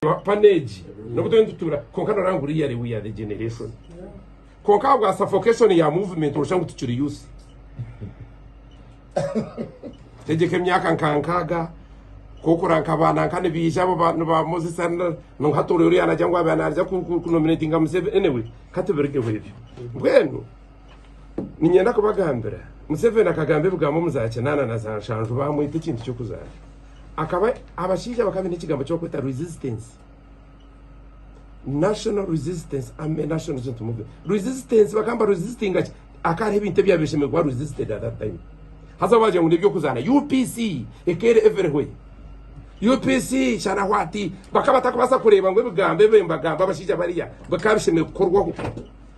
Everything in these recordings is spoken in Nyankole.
Pano egi nobu turiyo nitutuura kwonka norangura iya we are the generation kwonka ahabwa suffocation ya movement noshusha ngu tukiri youth tegyeka emyaka nka nkaaga kokura nka baana nka nibaija abo ba Moses ngu hati ori ori yanagira ngu abe naija kunominatinga Museveni anyway katubirigeho ebyo mbwenu Niinyenda kubagambira, Museveni akagamba ebigambo omu za kinaana na za nshanju baamwita ekintu ky'okuzaara. Akaba abashaija bakaba baine ekigambo ky'okweta resistance, national resistance, army national resistance movement. Resistance bakaba nibaresistinga ki? Hakaba hariho ebintu ebyabire bishemereire kuba resisted at that time. Haza waagira ngu n'eby'okuzaana UPC ekeera everywhere. UPC shana what? Bakaba batakubaasa kureeba ngu ebigambo ebi mbagamba abashaija bariya bikaba bishemereire kukorwaho.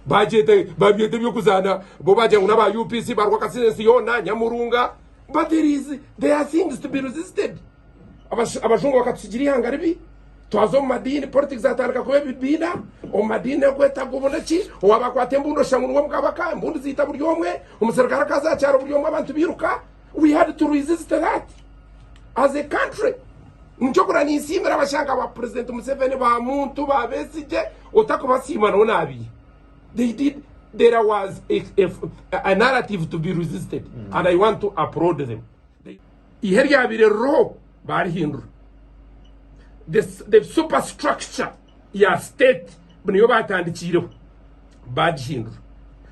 Bagyeta babyeta eby'okuzaana bo baagira ngu n'aba UPC barwa akasiri ensi yoona nyamurunga but there is there are things to be resisted abajungu bakatusigira ihanga ribi twaza omu madiini politics atandika kuba ebibiina omu madiini ekwetaga obona ki owaba akwata embundu oshangu niwe mukabaka embundu ziita buri omwe omuserukare akaza akyaro buri omwe abantu biruka We had to resist that as a country. Nikyo kura ninsiimira abashanka ba President Museveni ba Muntu ba Besigye otakubasiima no nabi. They did there was a, a, a narrative to be resisted mm. and I want to applaud them. Ihe ryabire roho barihindura. The, the superstructure ya state niyo batandikiireho bagihindura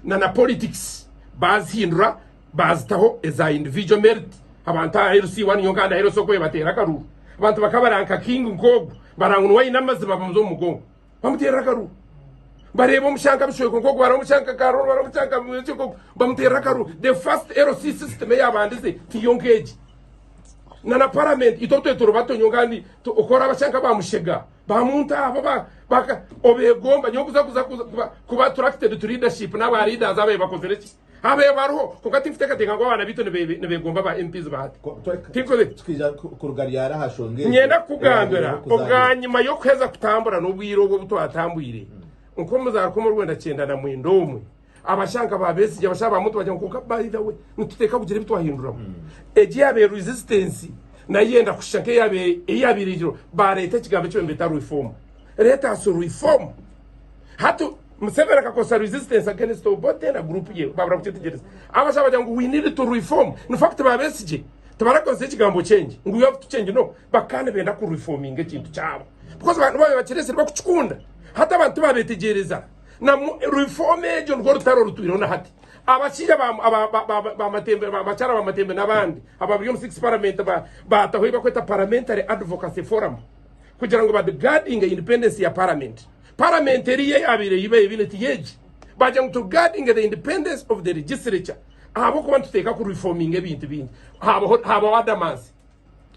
na na politics bazihindura Baazitaho eza individual merit abantu aha LC one yonka and aha LC okwe bateera akaruru. Abantu bakaba baranka King nk'ogu baranga niwe aine amaziba bamuza omu mugongo bamuteerera akaruru. Bareeba omushanka Bishweko nk'ogu bareba omushanka Karol bareba omushanka Bwire nk'ogu bamuteerera akaruru. The first LC system eyabandize tiyo nk'egi. Na na parliament itwe twe turi bato nyowe kandi oku oraaba sha nka ba Mushega ba Munta abo ba ba ka- obeegomba nyowe kuza kuza kuza kuba kuba attracted to leadership n'aba leaders abaye bakozire ki. Abeebo bariho, kwonka tinkuteekateeka ngu abaana baitu nibeegomba ba MPs ba hati. Tukija kuruga ryari aha nshonga egi? Niinyenda kukugambira, obwanyima y'okuheza kutambura n'obwire obu obu twatambwire, nk'omuzaaruka omu rwenda kyenda na mwenda omwe, abasha nka ba Besigye, abasha ba Muntu bagira ngu kwonka by the way nituteeka kugira ebi twahinduramu. Egi yaabaire resistance nayo yenda kushusha nk'eyabaire eigirwe, baareeta ekigambo eki baabaire nibeeta reform. Let us reform. Hati Museveni akakozesa resistance against Obote na group ye babura kukyetegereza. Abasha bagira ngu we need to reform. In fact ba Besigye tibarakozesa ekigambo change ngu you have to change no bakaba nibenda ku reforminga ekintu kyabo because abantu babaire bakiresire bakukikunda. Hati abantu tibabetegereza na reform egyo nirwo rutaro orutwireho na hati. Abashaija ba Matembe bakyara ba Matembe nabandi ababiri omu six parliament bataho eyi bakweta parliamentary advocacy forum kugira ngu ba guardinge independence ya parliament. Paramenti eriyo eyabaire ei babaire baine teri egi. Baagira ngu to guarding the independence of the legislature ahabw'okuba nituteeka ku reforminga ebintu bingi haabaho haabaho adamansi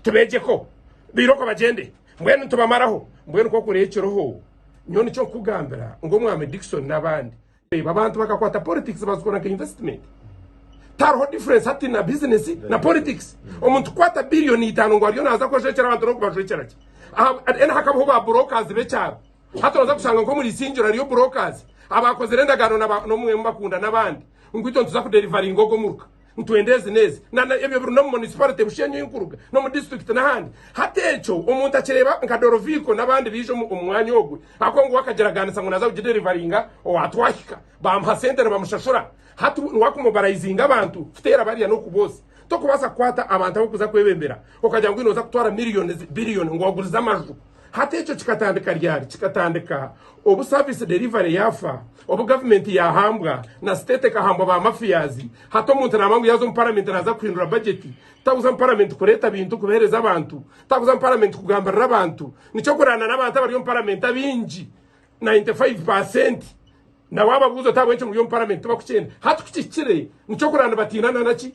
tubeegyeko bairoko bagyende mbwenu nitubamaraho mbwenu nk'oku reekireho nyowe nikyo nkukugambira ngu Omwami Dickson n'abandi Reeba abantu bakakwata politics bazikora nka investment. Tariho difference hati na business na politics. Omuntu kukwata billion itaano ngu ariyo naza kwejwekyera abantu n'okubajwekyera ki? Then hakabaho ba brokers b'ekyaro. Hati oza kushanga nk'omuri Isingiro hariyo brokers abaakozire endagaano n'omwe mubakunda n'abandi ngu itwe nituza kuderivaringa ogu omuruka. Nitwenda ezi n'ezi nana ebyo biri n'omu Municipality Bushenyi ei nkuruga, n'omu District n'ahandi. Hati ekyo omuntu akireeba nka Doroviiko n'abandi baija omu mwanya ogu ahabw'okuba ngu we akagiragaanisa ngu naaza kugiderivaringa owa Twahika, baamuha sente nibamushashura. Hati niwe akumobarayizinga abantu kuteera barya n'oku boosya. Tokubaasa kukwata abantu abarikuza kwebembera okagira ngu oine oza kutwara millions, billion ngu wagurize amaju. Hati ekyo kikatandika ryari? Kikatandika obu service delivery yafa, obu government yahambwa na state ekahambwa ba mafias. Hati omuntu naba ngu yaza omu parliament naza kuhindura budget. Takuza omu parliament kureta bintu kubihereza abantu. Takuza omu parliament kugambirira abantu. Nikyo kurana nabantu abari omu parliament abingi 95 per cent nawababuza oti ahabwenki muri omu parliament tibakukyenda. Hati kukihikire nikyo kurana nibatiina nanaki?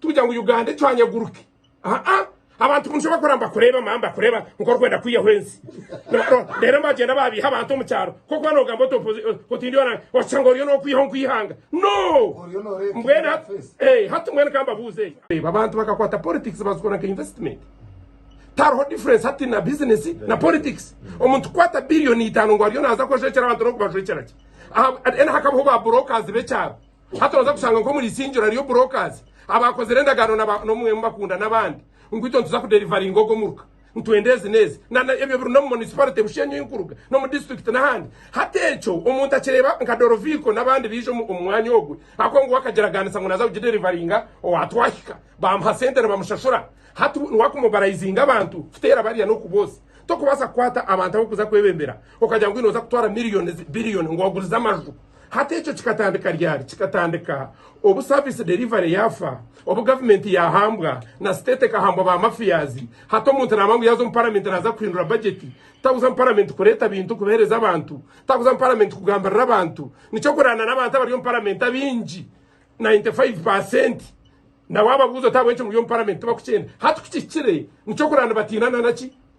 Tugira ngu Uganda ecwanya eguruke. Haa abantu boojo bakora nibakureeba mama nibakureeba nka orikwenda kwihaho ensi. Reero bagyenda baabiiha abantu omu kyaro kw'okuba noogamba oti oti ndi orange oshusha ngu oriyo nookwihaho nk'eihanga. No! Mbwenu hati ee hati mbwenu ka mbabuuze. Reeba abantu bakakwata politics bazikora nka investment. Tihariho difference hati na business na politics. Omuntu kukwata billion itaano ngu ariyo naaza kwejwekyera abantu n'okubajwekyera gye. Aha then hakabaho ba brokers b'ekyaro. Hati nooza kushanga nk'omuri Isingiro hariyo brokers abaakozire endagaano na ba n'omwe mu bakunda n'abandi ngu itwe nituza kuderivaringa ogu omuruka, nitwenda ezi n'ezi. Na na ebyo biri n'omu Municipality Bushenyi ei nkuruga, n'omu District n'ahandi. Hati ekyo omuntu akireeba nka Doroviiko n'abandi baija omu omu mwanya ogwe ahabw'okuba ngu we akagiraganisa ngu naaza kugiderivaringa owa Twahika, baamuha sente nibamushashura. Hati we niwe akumobarayizinga abantu kuteera bariya n'oku bosi. Tokubaasa kukwata abantu ab'okuza kwebembera okagira ngu oine oza kutwara millions, billion ngu wagurize amaju. Hati ekyo kikatandika ryari? Kikatandika obu service delivery yafa, obu government yahambwa na state ekahambwa ba mafias. Hati omuntu naba ngu yaza omu parliament naza kuhindura budget. Takuza omu parliament kureta bintu kubihereza abantu. Takuza omu parliament kugambirira abantu. Nikyo kurana nabantu abari omu parliament abingi 95 per cent nawababuza oti ahabwenki muri omu parliament tibakukyenda. Hati kukihikire nikyo kurana nibatiina nanaki?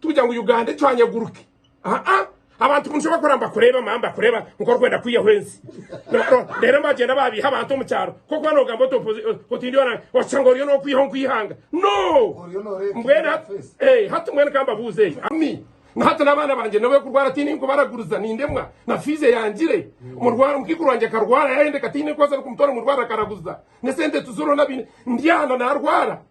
Tugira ngu Uganda ecwanyeguruke. Aa abantu bumsha bakora mbakureba mama mbakureba nkorikwenda kwiyaho ensi. Rero mbagyenda babiha abantu omu kyaro. Kokuba nogamba oti oti ndi ona okishanga oriyo nokwiyaho nkwihanga. No! Mbwenu hati eh hati mbwenu kambabuze eyi. Ami na hati n'abaana bangye nobe kurwara tine nkubaraguriza nindemwa na fees eyangire. Murwaro mukikuru wangye akarwara yayendeka tine nkoza kumutwara murwaro akaraguza. Nesente tuzirona bine ndi ana narwara.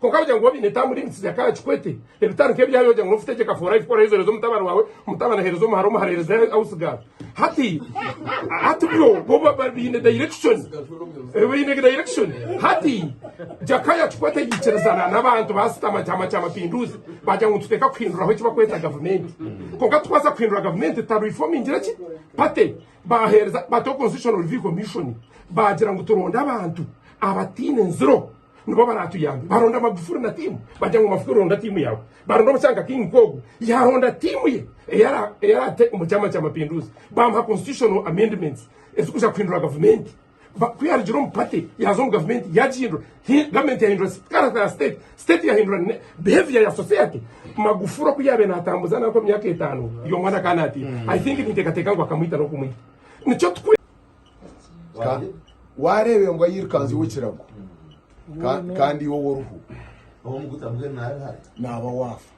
Kwonka wagira ngu obiine taamu limits za kara kikwete. Ebitari nk'ebi yaayo wagira ngu n'ofu tegyeka for life ku oraaheeza oreeze omutabani waawe, omutabani aheereze omuhara, omuhara aheereze house girl. Hati hati byo bo ba biine direction. Eh, Baine direction. Hati Jakaya kikwete yaikiriza na n'abantu baasitama kyama kya mapinduzi baagira ngu nituteeka kuhinduraho eki bakweta gavumenti. Kwonka tikubaasa kuhindura gavumenti tutarefomingira ki party. Baaheereza bataho constitutional review commission baagira ngu turonde abantu abataine nziro. nibo baratuyambe baronda magufuri na tiimu bagira ngu magufuri ronda tiimu yaawe baronda omucanga king kogu yaronda tiimu ye eyarate omu kyama kya mapinduzi bamuha constitutional amendments ezikuja kuhindura gavumenti ku yarugire omu pate yaza omu gavumenti yagihindura gavumenti yahindura character ya state state yahindura behavior ya society magufuri oku yabe natambuza nanku emyaka etaano y'omwana kanati mm. i think ninteekateeka ngu akamwita n'okumwita nikyo Ka- waareeba embwa yirukanzire ekirago ka- kandi iwe w'oruhu naaba waafa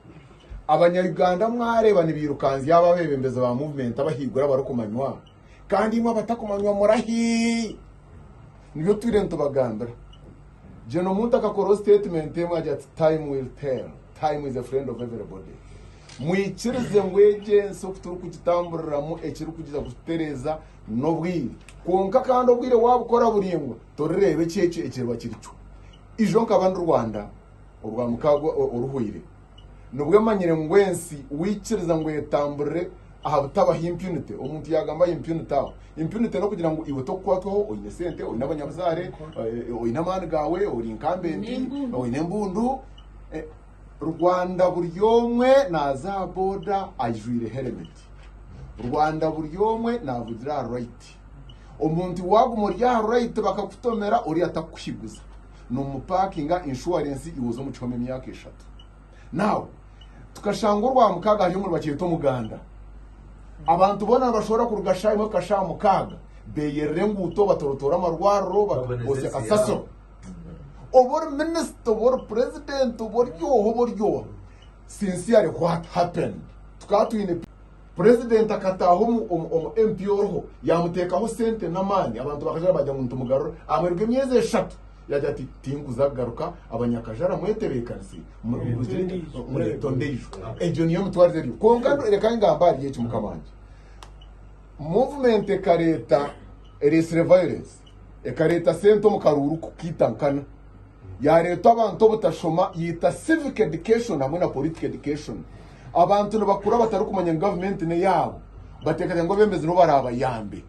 abanyayuganda mwareeba nibirukanzya aba abebembezi ba movement abahaiguru abarikumanywa kandi imwe abatakumanywa murahi nibyo twire nitubagambira jeno omuntu akakoraho statement emwe agira ati time will tell time is a friend of everybody mwikirize ngu egi ensi oku turi kugitamburiramu ekiri kugira kututereeza N'obwire. Kwonka kandi obwire waabukora buraingwa, torireeba eki ekyo ekiriba kiri kyo. Ijo nkaba ndi Rwanda orwa mukaagwa oruhwaire. Nibwe manyire ngu ensi waikiriza ngu etamburire aha butabaho impunity, omuntu yaagamba aha impunity aho. Impunity n'okugira ngu iwe tokukwatwaho, oine sente, oine abanyabuzaare, oine amaani gaawe, ori nkambenti, oine embundu. Rwanda buri omwe naaza aha boda ajwaire heremeti. Rwanda buri omwe naavugira aha rayiti. Omuntu waaguma ori aha rayiti bakakutomera oriya atakukushiguza. Noomupaakinga inshuwarensi iwe oze omu kihome emyaka eshatu. Now, tukashanga orwamukaaga hariyo omuri bakyeta omuganda. Abantu boona nibashohora kuruga shaaha imwe kuhika shaaha mukaaga. Beeyerera enguuto, batorotoora amarwariro, bakozesa kasasiro. Oba ori minisita, oba ori purezidenti, oba ori oha, oba ori oha, sincerely what happened? Tukaba twine purezidenti akataaha omu, omu, omu MP oriho, yaamuteekaho sente n'amaani, abantu bakajara baagira ngu nitumugarura, ahamariirwa emyezi eshatu yaagira ati tinkuza kugaruka, abanyakajara mwetebeekanise, murugire, mureete ondiijo. Egyo niyo mitwarize eriyo. Kwonka nu- reka ngambe ahari eki, mukama wangye. Movement ekareeta, ereetsire violence. Ekareeta sente omu karuuru kukaita nkana. Yaareetwa abantu obutashoma, yaita civic education hamwe na political education. Abantu nibakura batarikumanya ngu gavumenti n'eyaabo. Bateekateeka ngu abeebembezi nibo baraabayambe.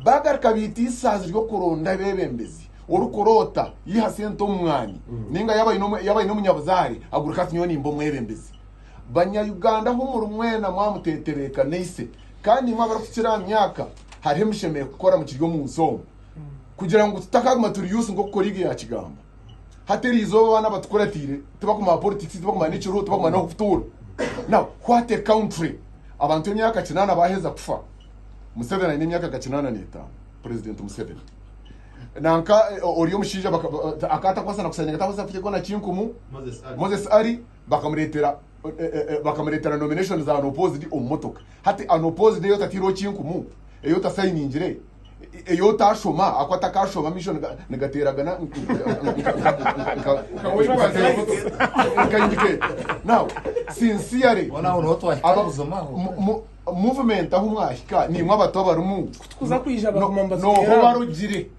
Baagaruka baita eisaazi ry'okuronda abeebembezi. Orikuroota yiha sente omu mwani. Nainga yaaba aine omu, yaaba aine omunyabuzaare, agureke ati nyowe nimba omwebembezi. Banya Uganda ahu muri mwena mwamuteetereeka naise. Kandi imwe abarikukira aha myaka, hariho emishemehe kukora mukiri omu nsi omu kugira ngu tutakaguma turi yusi nk'oku koriigi yakigamba hati eriizooba abaana abatukuratiire tibakumanya politics tibakumanya n'ekiruho tibakumanya n'oku kutuura now what a country abantu emyaka kinaana baheza kufa museveni aine emyaka nka kinaana n'etaano president museveni nanka eh, ori omushaija baka- ba- akatakwasa na kusaninga atakwasa kuteekwa na kinkumu moses ari Bakamureetera bakamureetera nomination za unopposed omu motoka. Hati unopposed ei otataireho kinkumu, ei otasayiningire, ei otaashoma ahakuba atakaashoma amaisho nigateeragana nka nka nka indicator. Now sincerely Boona aho niho twahika aba- buzima aho. mu- mu- movement ahu mwahika niimwe abato abarimu Kutukuza kwija baguma niho niho nibatwera. barugire.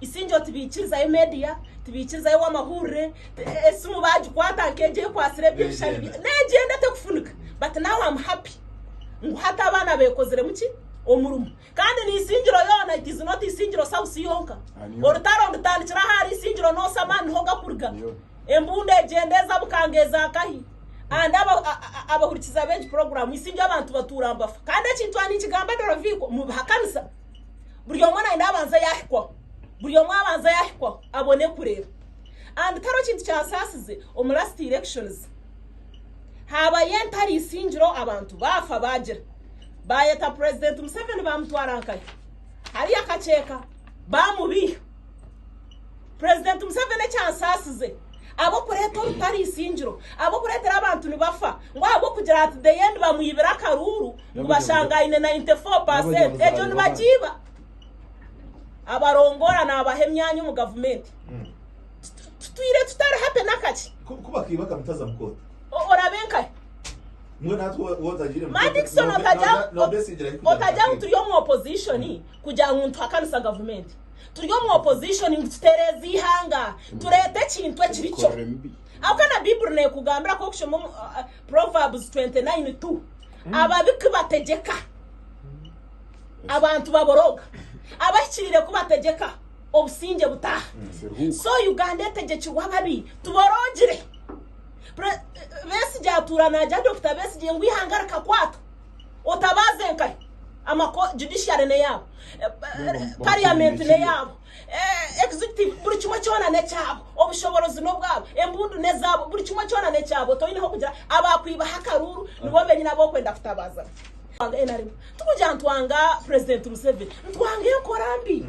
Isingye oti baikirizayo media, tibaikirizayo ow'amahurire, esimu bagikwata nk'egyo ekwatsire eby'ebishushani bye negyenda tekufunika but now am happy ngu hati abaana bekoziremu ki omurimo kandi ni isingiro yoona it is not isingiro south yonka orutaro ndutandikira ahari isingiro nosa amaani niho gakuruga embundu egyenda eza bukanga eza kahi and abahurikiza b'egi program isingyo abantu batuura nibafa kandi ekintu aha ninkigamba Doroviko mubihakanisa buri omwe naine abanza yahikwaho buri omwe abanza yahikwaho abone kureba and kare ekintu kyasasize omu last elections habayo entari isingiro abantu bafa bagira bayeta president museveni bamutwara nkayo hariyo akakyeka bamubiiha president museveni ekyansasize abokureeta orutari isingiro abokureetera abantu nibafa ngu ahabwokugira ati the end bamwibira akaruuru ngu bashanga aine 94 percent ekyo nibakiiba abarongoora naabaha emyanya omu gavumenti tutwire tutari happy n'akaki kuba akiiba akamutaza mu kooti orabe nkahe Madison otajya ngu turi omu opposition kugira ngu nituhakanisa gavumenti turi omu opposition ngu tutereeze ihanga tureete ekintu ekiri kyo aho kana bibuli nekugambira ku okushoma Proverbs 29 2 Ababi ku bategyeka, abantu baboroga, abahikiriire ku bategyeka, obusingye butaaha. So Uganda etegyekirwe ababi, tuborogire. Pre- Besigye atuura nagya Dr Besigye ngu ihanga rikakwatwa, otabaaze nkahe amako judiciary neyaabo, Eh, eh, parliament neyaabo. Executive, Buri kimwe kyona n'ekyabo. Obushoborozi n'obwabo. Embundu n'ezaabo. Buri kimwe kyona n'ekyabo. Toineho kugira abaakwibaho akaruuru nibo benyine ab'okwenda kutabaza. Nrm, Tikugira ngu twanga Purezidenti Museveni. Nitwanga enkora mbi.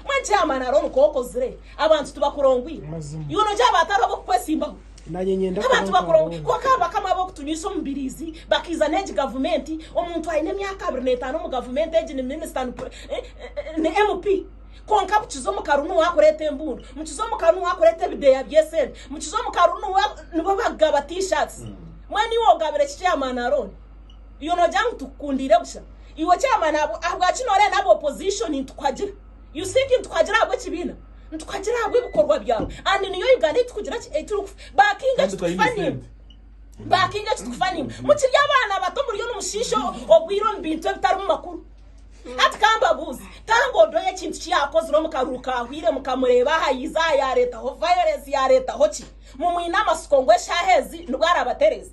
Mbwenu Chairman hariho nikwo okozire? Abantu tibakurongwiire. Iwe noogira haba hatariho ab'okukwesimbaho? Nk'abantu bakora obubi kwonka hariho bakama ab'okutunywisa omubiriizi bakaiza n'egi gavumenti, omuntu aine emyaka abiri n'etaano omu gavumenti egi ni minisita ni MP kwonka bukiza omukaru niwe arikureeta embundu, mukiza omukaru niwe arikureeta ebideeya by'esente, mukiza omukaru niwe nibo barikugaba T-shirts. Mbwenu iwe ogabire ki chairman Arooni? Iwe noogira ngu tukukundiire busha? Iwe chairman ahabwaki nooreeba naabe opposition nitukuhagira? You think nituhagira ahabwa ekibiina? Nituhagira ahabwa ebikorwa byawe and niyo Uganda ei tukugira ki ei turi backinga eki tukufa nimba backinga eki tukufa nimba mukiri abaana bato muriyo nimushiisha obwire omu bintu ebitarimu makuru hati kambabuuze tanga odoyo ekintu ki yakozire omu karuru ka hwire mukamureeba aha yiiza aha yareetaho violence yareetaho ki mumwine amasiko ngu eshaaha ezi nibwo arabatereeza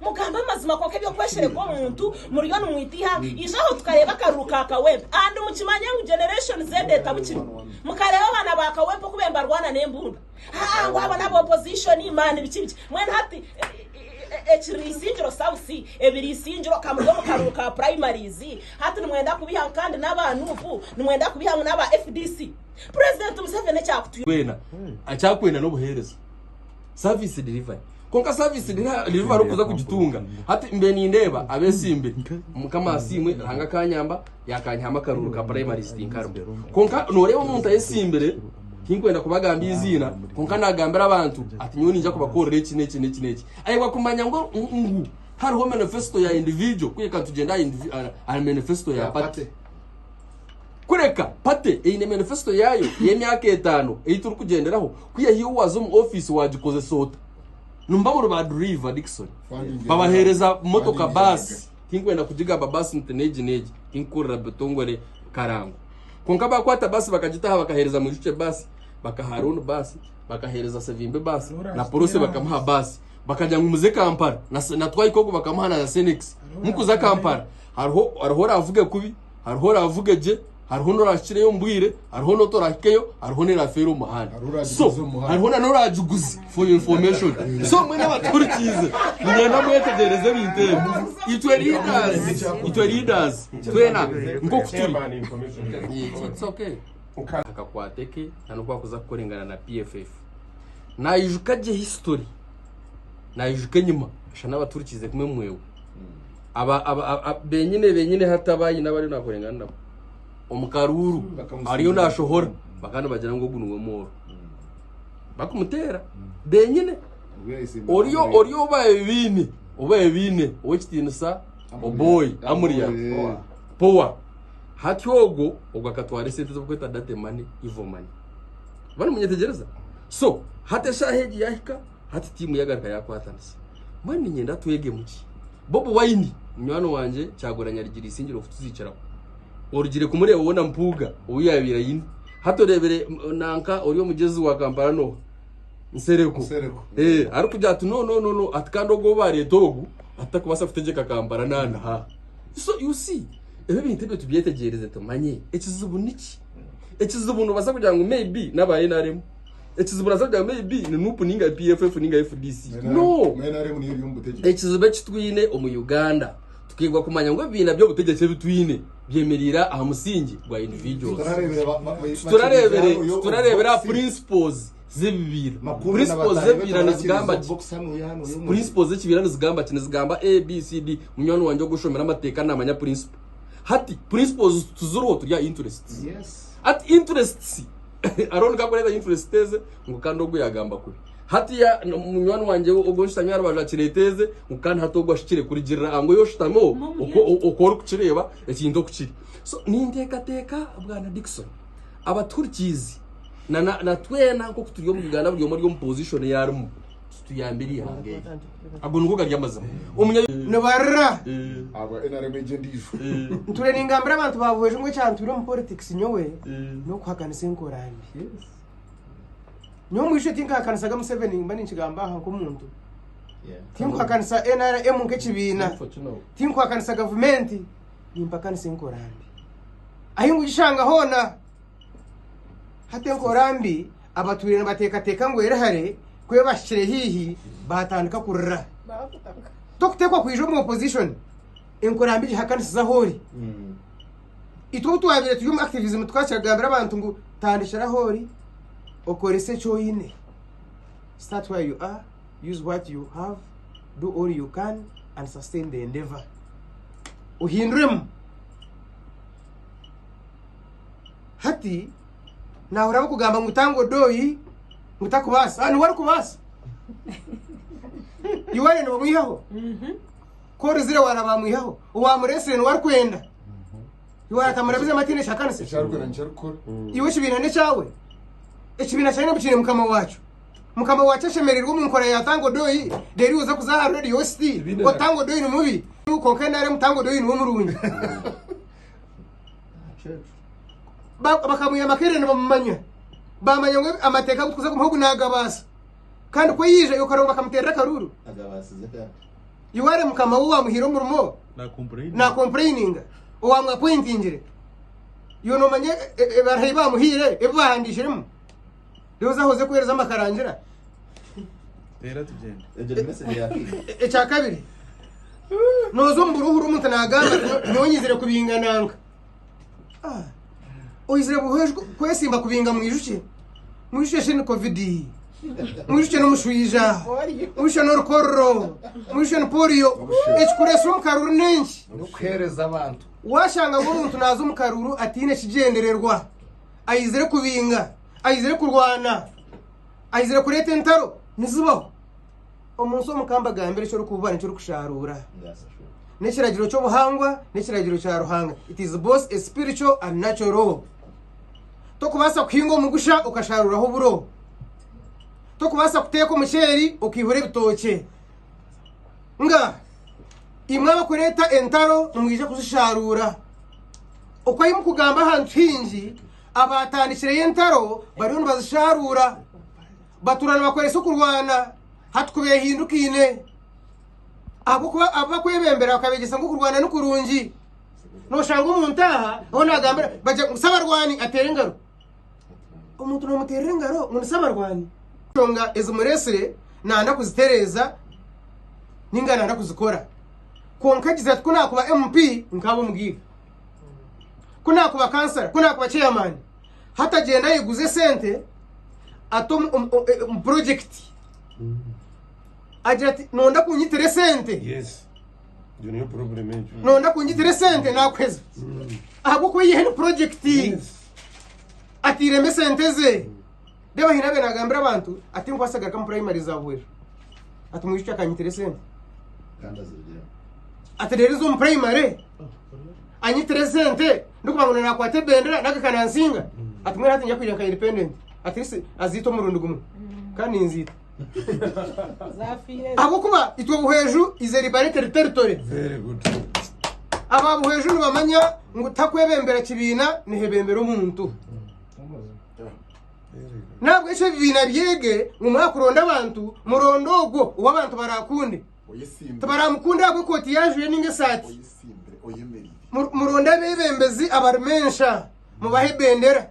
Mugambe amazima kwonka ebyokweshereka omuntu muriyo nimwita ihanga ija aho tukareeba akaruru ka kawempe and mukimanye ngu generation Z etabukire mukareeba abaana ba kawempe oku bembarwana nembundu haa ngu abo naba opposition man biki biki mwena hati ekiri isingiro south ebiri isingiro kamuri omu karuru ka primaries hati nimwenda kubiha ngu kandi naba nup nimwenda kubiha ngu naba fdc president museveni ekyakutu twena akyakwenda nobuhereza. Service delivery. Konka service delivery okuza kugitunga. Hati mbe nindeeba abesimbe mukama asiimwe Ruhanga akanyamba yakanyihamu akaruuru ka primary sitinkarimu. Konka noreeba omuntu ayesimbire tinkwenda kubagamba iziina konka nagambira abantu ati nyowe ninja kubakorera eki n'eki n'eki n'eki. Ayebwa kumanya ngu ngu hariho manifesto ya individual kureka nitugyenda aha indivi aha manifesto ya party. Kureka pate eine manifesito yaayo y'emyaka etaano ei turikugyenderaho, ku yaihiho waaza omu ofiisi waagikozesa ota? Nimuba muri ba duriiva, Dickson. Babaheereza motoka, baasi, tinkwenda kugigamba baasi nti n'egi n'egi, tinkukurira butongore karango. Kwonka baakwata baasi bakagitaha bakaheereza Mwijukye baasi, bakaha Arooni baasi, bakaheereza Sevimbe baasi, na Porosi bakamuha baasi. Bakagira ngu muze Kampala, na Twaika ogwo bakamuha na Senekisi. Mukuza Kampala hariho oraavuge kubi. Hariho oraavuge gye, hariho n'oraahikireyo omu bwire, hariho n'otoraahikeyo, hariho n'eraafeera omu muhanda. Hariho oraagiguza So, omu muhanda. hariho na n'oraagiguze for your information. So, mwena abaturikiize, ninyenda mwetegyereze ebintu ebi. Itwe leaders, itwe leaders, twena nk'oku turi. It's okay. akakwate ke na n'oku akuza kukorengana na PFF. Naijuka gye history, naijuka enyima, ashana abaturikiize kumwe mwewe. aba- aba- aba- aba- benyine benyine hataba ayine abariyo nakorengana nabo omukaruuru Bakamusiiba. ariyo nashohora bakandi bagira ngu ogu niwe mwooro bakumuteera benyine oriyo oriyo obaye biine obaye biine ow'ekitiinisa oboy amuriya Eh. powa hati ogwo ogwo akatwara esente z'okweta date money evil money bari munyetegereza so hati eshaaha egi yahika Hati tiimu yagaruka yakwatanisa. Mbwenu niinyenda twegemu ki? Bobi Wine, munywani wangye Kyagulanyi arigiriisingire okutuziikiraho. Orugire kumureeba woona Mpuuga ou yaabaire aine. Hati oreebire nanka ori omugyezi wa Kampala n'oha? Nsereko. Nsereko. Eh, arikugira ati no no no no ati kandi ogu ou baareeta ogu ati tarikubaasa kutegyeka Kampala naana ha. So you see, ebi ebintu ebyo tubyetegyeereze tumanye ekizibu niki. Ekizibu noobaasa kugira ngu maybe n'aba nrm Ekizibu oraza kugamba maybe ni nup ninga PFF ninga FDC. No! Ekizibu eki twine omu Uganda tukeegwa kumanya ngu ebibiina by'obutegyeki ebi twine byemereire aha musingi gwa individuals. Titurareebere titurareebere aha principles z'ebibiina. Principles z'ebibiina nizigamba ki? Principles z'ekibiina nizigamba ki? Nizigamba A, B, C, D. Munywani wangye ogu oshomire amateeka naamanya principle. Hati principles tuziriho turi aha interests. Hati interests. Arooni kakureeba influence teeze ngu kandi ogu yagamba kubi hati ya munywani wangye ogu nshutami aha rubaju akireeta eze ngu kandi hati ogu ashukire kurigirira angu oyo oshutami oku orikukireeba ekintu oku kiri. So ninteekateeka bwana Dickson abatuhurikiizi na na na twena nk'oku turi omu Uganda buri omwe ari omu position eyi arimu. Tuyambire ihanga eri. Ago nigo gari amazima. Omunya. Nibarira. Abwa nrm egyo endijo. Nture ningambira abantu ba Buhweju ngu ekyantwire omu politics nyowe n'okuhakanisa enkora mbi. Nyowe omwishiki tinkahakanisaga Museveni nimba ninkigamba aha nk'omuntu. Tinkuhakanisa nrm nk'ekibiina. Tinkuhakanisa gavumenti. Nimpakanisa enkora mbi. Ahi ngugishanga hoona. Hati enkora mbi. Abatwire nibateekateeka ngu eri hare ku ebahikire haihi baatandika kurira. Tokuteekwa kwija omu opposition enkora mbi gihakanisize ahu ori. Itwe obu twabaire turi omu activism tukakira kugambira abantu ngu tandikira ahu ori okorese eki oine. Start where you are, use what you have, do all you can and sustain the endeavour. Ohinduremu. Hati. nahurira abakugamba ngu tanga odoyi ngu takubaasa ah, niwe arikubaasa iwaye nibamwihaho ku orizire waraba amwihaho owamuresire niwe arikwenda iwe aratamura bizemu atiine kyakanisa ekyarikwenda nikyarikukora iwe ekibiina n'ekyawe ekibiina kyawe nabwo kiine mukama waakyo mukama waakyo ashemereirwe omu nkora ya tango doyi rero oza kuza aha radio ositi Ekibiina otango doyi ni mubi konka nare mutango doyi niwe murungi ba- bakamwira amakerere nibamumanya bamanya ngu amateeka agu tukuza kumuhogu nagabaasa kandi ku yaija yokarongo bakamuteerera akaruuru agabaasize kandi iwaare mukama we wamuhiire omurimo nakompureini nakompureyininga owamwapointingire iwe nomanya e- e- ebaraha ei bamuhiire ebi bahandikiremu reero oze ahoze kuheereza amakarangira teera tugyende egyo ni message ya fiina E- ekya kabiri noza omu buruhuru omuntu nagamba ati, "Nyo- nyowe nyizire kubingananga Ah, oizire buhwejwe kwesimba kubinga mwijukye mwijukye shini kovidi mwijukye n'omushwija mwijukye n'orukorro mwijukye ni poliyo ekikureesire omu karuuru n'enki n'okuheereza abantu washanga ngu omuntu naaza omu karuuru ataine kigyendererwa aizire kubinga aizire kurwana aizire kureeta entaro nizibaho Omu nsi omu ka mbagambira eki orikububa n'eki orikushaaruura. N'ekiragiro ky'obuhangwa n'ekiragiro kya Ruhanga. It is both a spiritual and natural law. Tokubaasa kuhinga omugusha okashaaruraho oburo. Tokubaasa kuteeka omuceeri okaihura ebitookye. Nga imwe abakureeta entaro nimwija kuzishaaruura. Oku ahi mukugamba ahantu haingi abatandikireyo entaro bariyo nibazishaaruura. Batuura nibakweresa okurwana hati ku beehindukaine. Ahabw'okuba abu bakwebembera bakabeegyesa ngu okurwana ni kurungi. Nooshanga omuntu aha ou naagambira bagira ngu sabarwani ateera engaro. Omuntu noomuteerera engaro ngu ni sabarwani. Enshonga ezimureetsire naayenda kuzitereeza nainga naayenda kuzikora. Kwonka agizire ati, Ku naakuba MP, nkaaba Omugaiga. Ku naakuba Kansara, ku naakuba Chairman. hati agyenda ayiguze sente ata omu- omu- omu- omu purojekiti agira ati nonda kunyitire sente yes iyo niyo problem egyo nonda kunyitire sente nakuheza ahabwokuba yihe ni purojekiti Yes. atiremu esente ze Reeba haine abe nagambira abantu ati nkwasa agaruka mu primary za Bwera. Ati mwishiiki akanyitira esente. Ati rero ezo mu primary anyitira esente ndikuba ngu nakwata ebendera naka kanansinga. Ati mwena hati nja kwija nka independent. Ati isi aziita omurundi gumwe kandi ninziita. Ahabw'okuba itwe Buhweju is a liberated territory. Very good. Aba Buhweju nibamanya ngu takwebembera kibiina nihebembera omuntu. nahabwekyo ebibiina byege ngu mwakuronda abantu muronde ogwo ou abantu barakunde tibaramukunde ahabw'ekooti yajwire ninga esaati muronde abebembezi abarimu ensha mubahe ebendera